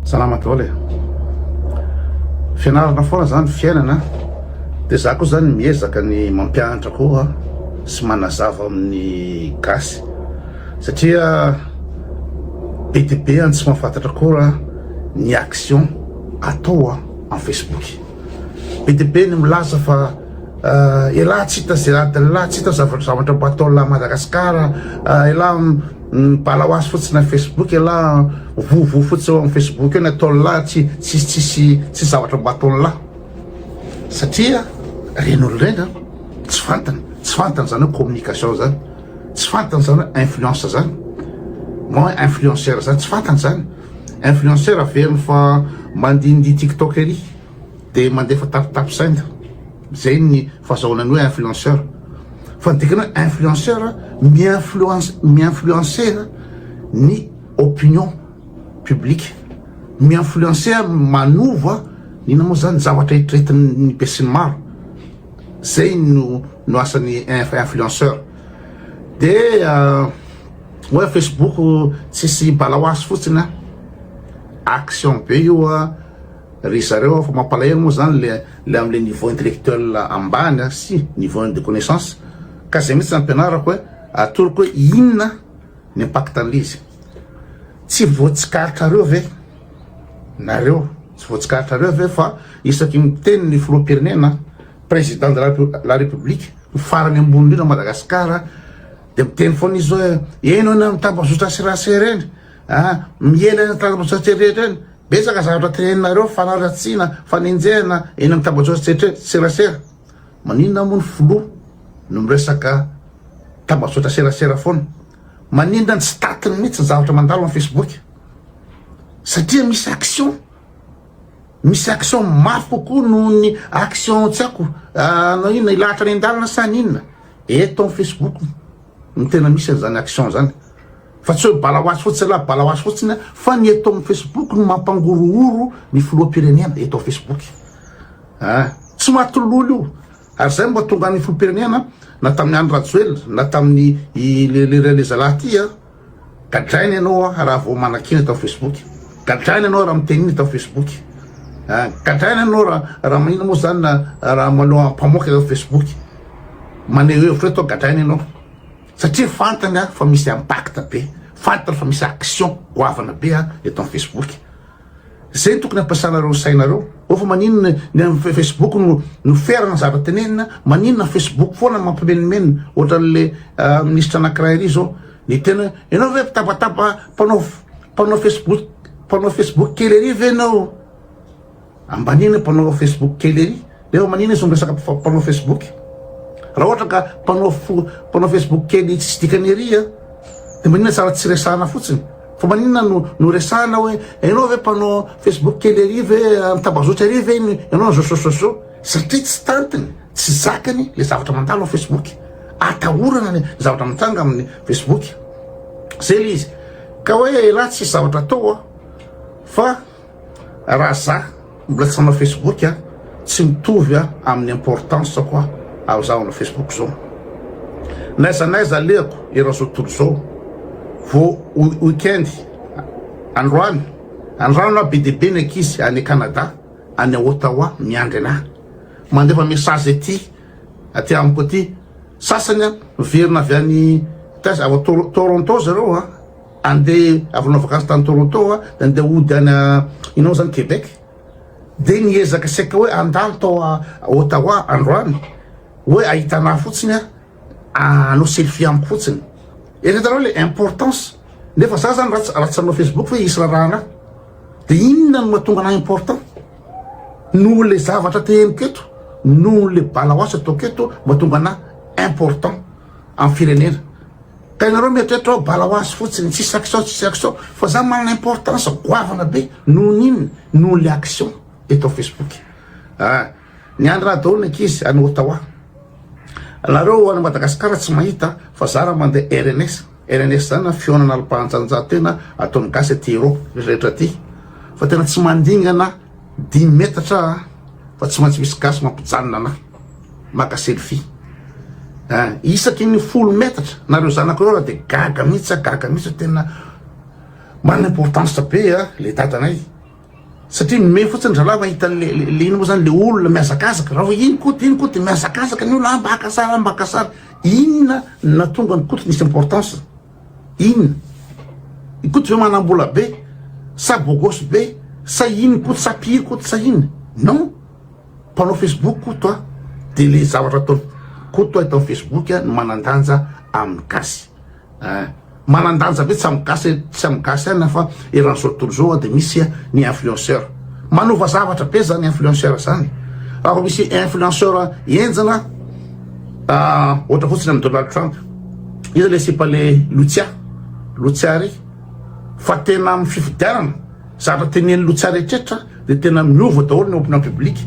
Salama daholo e! Fianarana foana zany ny fiainana de za koa zany miezaka ny mampianatra koa sy manazava amin'ny gasy satria be de be any tsy mahafantatra koa ny action atao amin'ny Facebook be de be ny milaza fa elah tsy hita ze adinlah tsy hita zavatra mba ataonlah Madagascar elah Bala hoazy fotsiny ny Facebook elah an! Vovo fotsy eo amin'ny Facebook eo ny ataon'lah tsy tsisy tsisy tsisy zavatra mba ataon'lah satria ireny olona ireny an tsy fantany tsy fantany izany hoe communication izany tsy fantany izany hoe influence izany moa hoe influenceur izany tsy fantany izany influenceur averiny fa mandindihy tiktok ery Dia mandefa tapitapin-tsaina. Izay ny fahazahoana ny hoe influenceur. Fa ny dikany hoe influenceur, mi-influence, mi-influencer ny opinion publique. Mi-influencer, manova, inona moa izany, ny zavatra eritreretin'ny besinimaro. Izay no, no asan'ny influenceur. Dia hoe Facebook tsisy bala ho azy fotsiny an. Action be io an. Ry zareo aho fa mampalahelo moa zany le le amle niveau intellectuel ambany a sy niveau de connaissance ka zay mitsy ampianarako hoe atoroko hoe inona ny impact anle izy tsy voatsikaritrareo ve nareo tsy voatsikaritrareo ve fa isaky ny miteny ny filoham-pirenena président de la république ny farany ambony indrindra Madagascar de miteny foana izy hoe eny hoy ny tambazotra serasera eny Aa miely any antanambotsatsy rehetra any betsaka zavatra teneninareo fanaratsiana fanenjehana eny am tambajotsy serasera maninona moa ny filoha no miresaka tambajotra serasera foana maninona ny statiny mihitsy ny zavatra mandalo am facebook satria misy action misy action mafy kokoa noho ny action tsy ako anao inona ilahatra any an-dalana sa ny inona eto am facebook no tena misy an'izany action zany Fa tsy hoe bala hoazy fotsiny ialahy, bala hoazy fotsiny an, fa ny eto amin'ny Facebook no mampangorohoro ny filoham-pirenena eto amin'ny Facebook an! Tsy maty lolo io, ary izay no mba tonga ny filoham-pirenena na tamin'i Andry Rajoelina na tamin'i ilay zalahy ity an! Gadraina ianao raha vao manakiana eto amin'ny Facebook, gadraina ianao raha miteny iny eto amin'ny Facebook an! Gadraina ianao raha maninona moa izany na raha manao ampamoaka eto amin'ny Facebook, maneho hevitra eto an, gadraina ianao. Satria fantany aho fa misy impact be, fantany fa misy action goavana be aho eto amin'ny Facebook. Zay no tokony ampiasanareo ny sainareo ô fa maninona ny amin'ny Facebook no no ferana ny zavatra tenenina, maninona ny Facebook foana mampimenomenona ohatran'le minisitra anakiray ary zao ny tena hoe enao ve mpitabataba mpanao mpanao Facebook mpanao Facebook kely ary ve enao? Ambaniana mpanao facebook kely ery. Efa manina izy no miresaka mpanao facebook. Raha ohatra ka mpanao mpanao facebook kely tsisy dikany ery a dia manina tsara tsy resahana fotsiny. Fa manina no no resahana hoe ianao ve mpanao facebook kely ery ve tambazotra ery ve ianao ny zoso zoso satria tsy tantiny tsy zakany le zavatra mandalo facebook. Atahorana ny zavatra mitranga amin'ny facebook. Zay le izy. Ka hoe elah tsisy zavatra atao a fa Raha za mbola tsy manao Facebook a, tsy mitovy a amin'ny importance ko aho ary za manao Facebook zao. N'aiza n'aiza alehako eran'ny zao tontolo zao. Vo weekend androany andrano na be dia be ny ankizy any Canada any Ottawa miandry anah. Mandefa message aty aty amiko aty. Sasany miverina avy any taiza avy Toronto zareo a. Andeha avy nanao vakansy tany Toronto aho dia andeha hody any inona moa izany Québec dia niezaka saika hoe handalo tao Ottawa androany hoe hahita anà fotsiny aho hanao selfie amiko fotsiny. Eto hitanao ilay importance nefa za zany raha raha tsy hanao Facebook hoe hisy raraha anà dia inona no mahatonga anà important noho ilay zavatra te henoko eto noho ilay bala hoasy ataoko eto mahatonga anà important amin'ny firenena. Ka ianareo mieritreritra hoe bala ho azy fotsiny, tsisy action tsisy action, fa za manana importance goavana be nohon'ny inona? nohon'le action eto am facebook ah, niandry raha daholo ny ankizy any Ottawa, nareo any Madagascar tsy mahita fa za raha mande rns, rns zany an fihaonana alpahanjanjahantena ataon'ny gasy aty Europe rehetra aty fa tena tsy mandingana, Dimy metatra a! Fa tsy maintsy misy gasy mampijanona anahy maka selfie a! Isaky ny folo metatra na reo zanako reo aho de gaga mihitsy a! Gaga mihitsy a! Tena manana importance be a! Le dadanay satria mihomehy fotsiny zalahy mahita anle le ino moa zany le olona mihazakazaka raha vao iny koto iny koto de mihazakazaka ny olona a! Mba haka sary a! Mba haka sary! Inona no nahatonga an'i koto nisy importance? In Koto ve manambola be sa bogos be sa in Koto sa mpihiry Koto sa in non mpanao facebook Koto a de le zavatra ataony Koto a eto am facebook a no manandanja aminy gasy a manandanja be tsy am gasy tsy am gasy ihany fa eran zao tontolo zao a de misy a ny influenceur manova zavatra be zany influenceur zany raha vao misy influenceur enjana a ohatra fotsiny am Donald Trump Iza le sipa le Lucia? Lucia ry fa tena am fifidianana zatra teneniny Lucia retretra de tena miova daholo ny opinion publique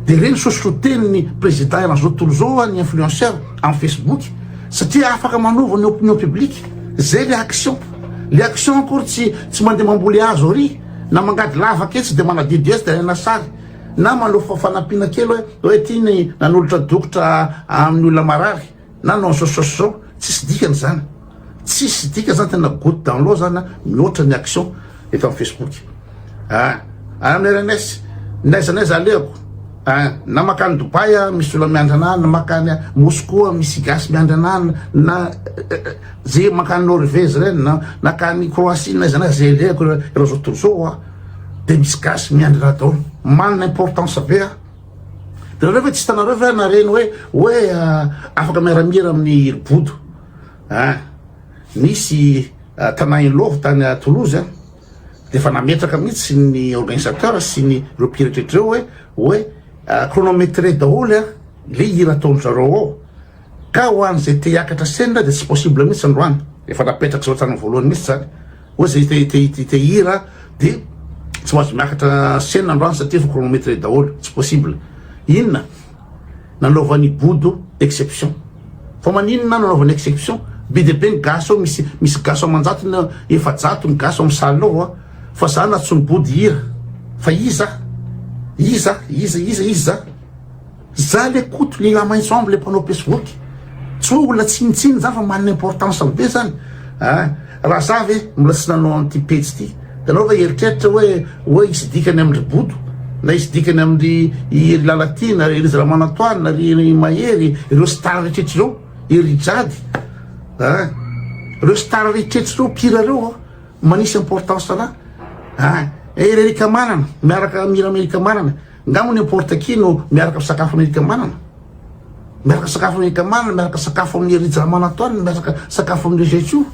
de reny sosroteniny president eran zao tontolo zao ny influenceur am facebook satria afaka manova ny opinion publique zay le action le action akory tsy tsy mande mamboly hazo ary na mangady lavaka etsy de manadidy etsy de alaina sary na manofa fanampiana kely hoe hoe ty ny nanolotra dokotra aminy olona marary Na non sos sos zao tsisy dikany zany tsisy dikany zany tena gout dans l'eau zany mihoatra ny action eto am facebook ah ah am rns n'aiza n'aiza alehako ah na makany Dubaï ah misy olona miandry anah na makany Moscou ah misy gasy miandry anah na ze makany Norvège reny na nakany Croatie n'aiza n'aiza ze alehako ireo zao tontolo zao ah de misy gasy miandry anah daholo manana importance be ah Dia nareo ve tsy hitanareo ve na reny hoe hoe afaka miara-mihira amin'ny hiribodo ah nisy tanà Inlove tany à Toulouse an dia efa nametraka mihitsy ny organisateur sy ny ireo mpihira rehetra ireo hoe hoe chronométré daholo an le hira ataon-dry zareo ao ka ho an'izay te hiakatra scène dia tsy possible mihitsy androany efa napetraka izao hatramin'ny voalohany mihitsy izany Hoy izay te te te te hira dia tsy mahazo miakatra scène androany satria efa chronometre daholo, tsy possible. Inona? Nanaovan'i Bodo exception. Fa maninona nanaovany exception? Be dia be ny gasy ao, misy misy gasy aman-jatony eo, efajato ny gasy ao amin'ny salle ao a! Fa za nantsoin'i Bodo hihira fa iza? Iza? Iza? Iza? Iza? Za le koto lila maitso amby le mpanao pesboky tsy hoe olona tsinitsiny za fa manana importance be zany a ah, raha za ve mbola tsy nanao an'ity pejy ity ianao ve eritreritra hoe hoe hisy dikany amindry bodo na hisy dikany amindry iry lalatina ry izy ramanantoany na ry mahery ireo star rehetrehitra ireo iry jady a ah, ireo star rehetrehitra ireo pira ireo ah, manisy importance ana a ah, eh, ererika manana miaraka mira amerika manana Ngano n'importe qui no miaraka misakafo amin'i Eric Manana? Miaraka misakafo amin'i Eric Manana, miaraka misakafo amin'i Hery Jamanantoine, miaraka misakafo amin'i Zaichou.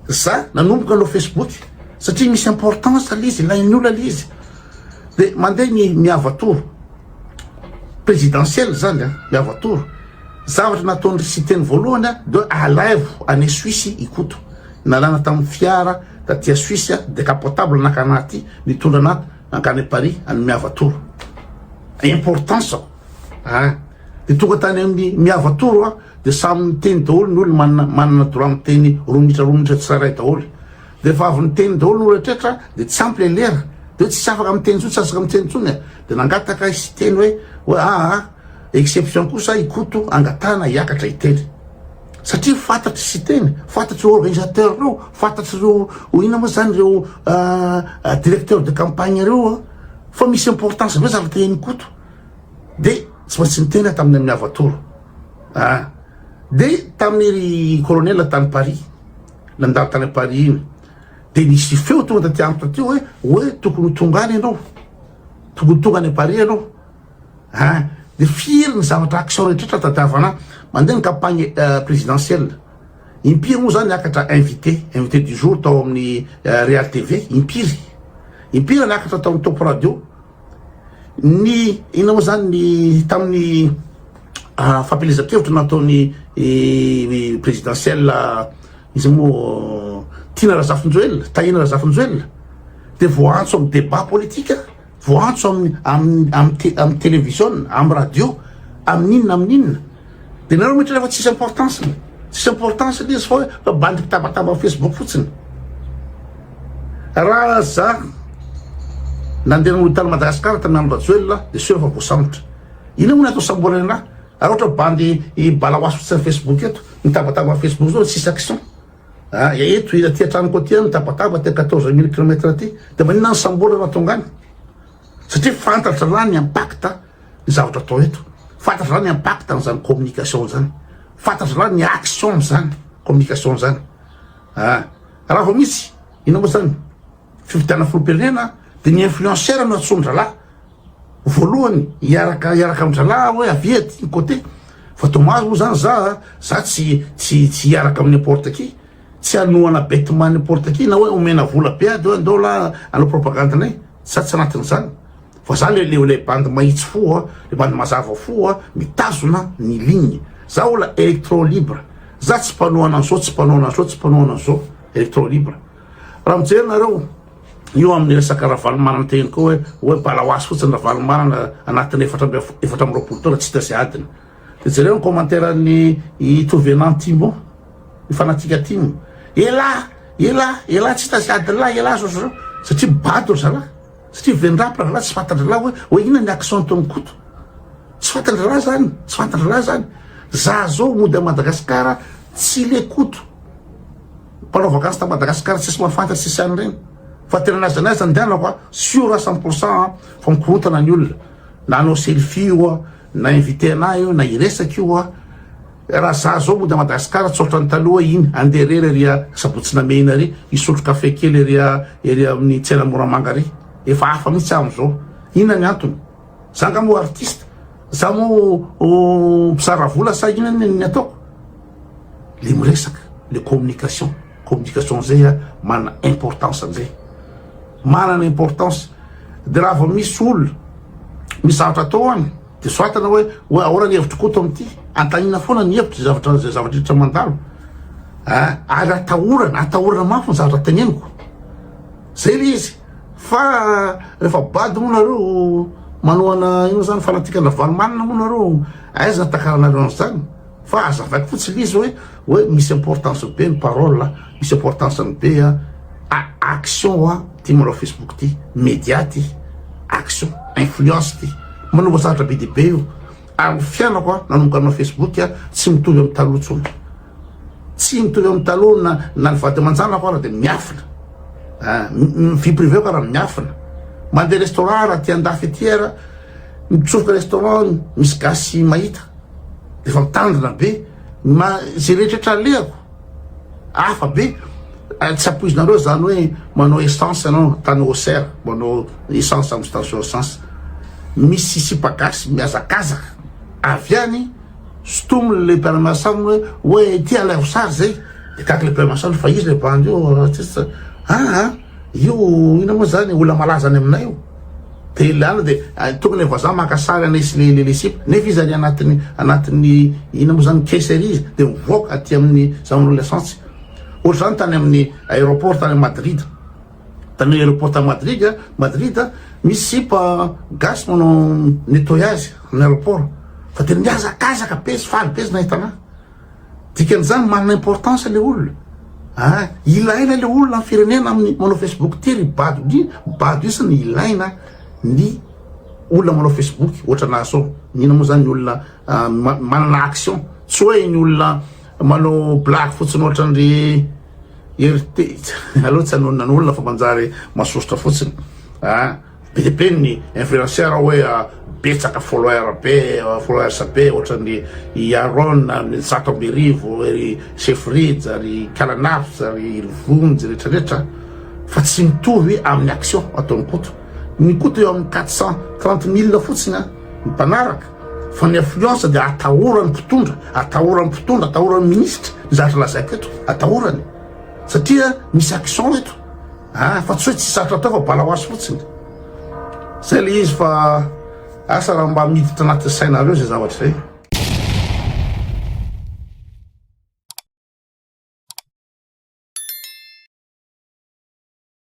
Za nanomboka hanao Facebook satria misy importance ilay izy, ilain'ny olona ilay izy. Dia mandeha ny miava tour présidentiel zany an, miava tour. Zavatra nataon'i Siteny voalohany an, dia alaivo any Suisse i Koto. Nalana tamin'ny fiara taty Suisse, decapotable naka anaty, nitondra anaty Nankany Paris any Miavatoro importance aho a de tonga tany amin'ny Miavatoro aho de samy niteny daholo ny olona manana manana droit miteny roa minitra roa minitra tsirairay daholo de efa avy niteny daholo ny rehetra de tsy ampy le lera de tsy afaka miteny intsony tsy afaka miteny intsony de nangataka izy hiteny hoe hoe aa Exception kosa i Koto angatahana hiakatra i Teddy satria fantatr'i Siteny, fantatr'ireo organisateur ireo, fantatr'ireo inona moa zany ireo directeur de campagne ireo an, fa misy importance be zavatra henon'i Koto de tsy maintsy niteny aho tamin'ny amin'ny Havatoro an, de tamin'ny ry colonel tany Paris nandalo tany Paris iny de nisy feo tonga taty amiko taty hoe hoe tokony ho tonga any ianao, tokony ho tonga any Paris ianao. Hein? Dia firy ny zavatra action rehetraretra tadiavana mandeha ny campagne présidentielle? Impiry moa zany niakatra invité, invité du jour tao amin'ny Real TV? Impiry? Impiry niakatra tao amin'ny Top Radio? Ny inona moa zany ny tamin'ny fampielezan-kevitra nataon'ny présidentielle izy moa Tiana Razafinjoelina, Tahiana Razafinjoelina dia voaantso amin'ny débat politique? Voantso amin'ny amin'ny amin'ny te amin'ny televiziona, amin'ny radio, amin'inona amin'inona. Dia nareo mihitra rehefa tsisy importance-ny. Tsisy importance ilay izy fa hoe fa bandy mpitabataba amin'ny Facebook fotsiny. Raha za nandeha nanolo tany Madagascar tamin'ny andro Rajoelina aho dia sûr fa voasambotra. Inona moa no atao samborana anah? Raha ohatra bandy i balawas fotsiny amin'ny Facebook eto, mitabataba amin'ny Facebook zao tsisy action. Ary eto ila aty an-tranoko aty an, tabataba aty quatorze mille kilomètre aty, dia maninona ny sambola no tonga any? Satria fantatra an'la ny impact ny zavatra atao eto, fantatra an'la ny impact an'izany communication izany, fantatra an'la ny action amin'izany communication izany. Ah, raha vao misy, inona moa izany, fifidianana filoham-pirenena dia ny influenceur no antsoin-drahalahy, Voalohany hiaraka hiaraka amin-dralahy hoe avia aty ny côté fa dommage moa zany za za tsy tsy tsy hiaraka amin'ny importe qui tsy hanohana betement n'importe qui na hoe omena vola be ady hoe andao lah hanao propagande nay za tsy anatin'izany fa za le le le bandy mahitsy fo a le bandy mazava fo a mitazona ny ligne za ola electro libre za tsy mpanohana an'zao tsy mpanohana an'zao tsy mpanohana an'zao electro libre Raha mijery nareo io amin'ny resaka Ravalomanana tehiny koa hoe hoe balawas fotsiny Ravalomanana anatin'ny efatra amby efatra amby roapolo taona tsy hita sy adiny. Dia jereo ny commentaire-n'i Itovenant Timo, i fanatika Timo. Elah! Elah! Elah! Tsy hita sy adin'lah elah zao zao satria bado ry zalahy. Satria vendrapy ry zalahy tsy fantan-drahalahy hoe hoe inona ny action ataon'i Koto. Tsy fantan-drahalahy zany, tsy fantan-drahalahy zany. Za zao mody à Madagascar tsy le Koto. Mpanao vakansy ta Madagascar tsisy mahafantatra tsisy any reny fa tena n'aiza n'aiza andehanako a sûr a cent pour cent a fa mikorontana ny olona na hanao selfie io a na inviter anah io na hiresaka io a raha za zao mody a Madagascar tsy otran'ny taloha iny andeha irery ery a Sabotsy Namehina ery hisotro café kely ery a ery amin'ny tsena Moramanga ery efa hafa mitsy aho am'zao inona ny antony Za nga moa artiste? Za moa mpizara vola sa inona ny ataoko? Le miresaka, le communication, communication zay a manana importance an'zay, manana importance, de raha vao misy olona misy zavatra atao any de soratana hoe hoe ahoana ny hevitry Koto amin'ity, antanina foana ny hevitry zay zavatra zay zavatra rehetra mandalo a, ary atahorana atahorana mafy ny zavatra teneniko, zay le izy. Fa refa bado moa nareo manohana ino zany fanatikana ravalomanana moa nareo aiza nitakaranareo anzany fa azavaiko fotsiny izy hoe hoe misy importance be ny parole misy importance ny be a action wa ty manao facebook ty media ty action influence ty manova zavatra be dia be io ary ny fiainako a nanomboka nanao facebook a tsy mitovy amin'ny taloha tsony Tsy mitovy amin'ny taloha na na ny vady aman-janako ary dia miafina an, vie privée-ko ary miafina, mandeha restaurant ary aty an-dafy aty ary mitsofoka restaurant misy gasy mahita dia efa mitandrina be, ma izay rehetra alehako hafa be, tsy ampoizinareo izany hoe manao essence ianao tany Auxerre, manao essence amin'ny station essence, misy sipa gasy mihazakazaka avy any. Stom le lehibe any Mahasambo hoe oe ity alay ho sary zay de gaga le PM Assange fa izy le bandy io artiste aa io ina moa zany olona malaza any aminay io de le ala de tonga le vazaha maka sary anay sy le le sipa nefa izy any anatiny anatiny ina moa zany caisse ery izy de mivoaka aty amin'ny zany hoe le sansy ohatr'izany tany amin'ny aéroport tany Madrid Tany aéroport tany Madrid, Madrid, misy sipa gasy manao nettoyage amin'ny aéroport fa tena mihazakazaka be sy faly be izy nahita anah. Dikan'izany manana importance le olona. Ah, ilaina le olona amin'ny firenena amin'ny manao Facebook ty ry bado ndry bado isany ilaina ny olona manao Facebook ohatra anah sao. Mino moa zany ny olona manana action tsy hoe ny olona manao blague fotsiny ohatra an'ry Irte aleo tsy anonona ny olona fa manjary masosotra fotsiny ah be dia be ny influenceur hoe ah, betsaka follower be followers be ohatran'ny i Aaron amin'ny zato amby arivo ry Chefridge ry Kalanafs ry Vonjy rehetra rehetra fa tsy mitovy amin'ny action ataon'ny Koto ny Koto eo amin'ny 430 mille fotsiny ny mpanaraka Fa ny influence dia atahoran'ny mpitondra, atahoran'ny mpitondra, atahoran'ny ministra, ny zavatra lazaiko eto, atahorany. Satria misy action eto. Ah, fa tsy hoe tsy sarotra atao fa bala wasy fotsiny. Zay le izy fa asa raha mba miditra anaty sainareo zay zavatra zay.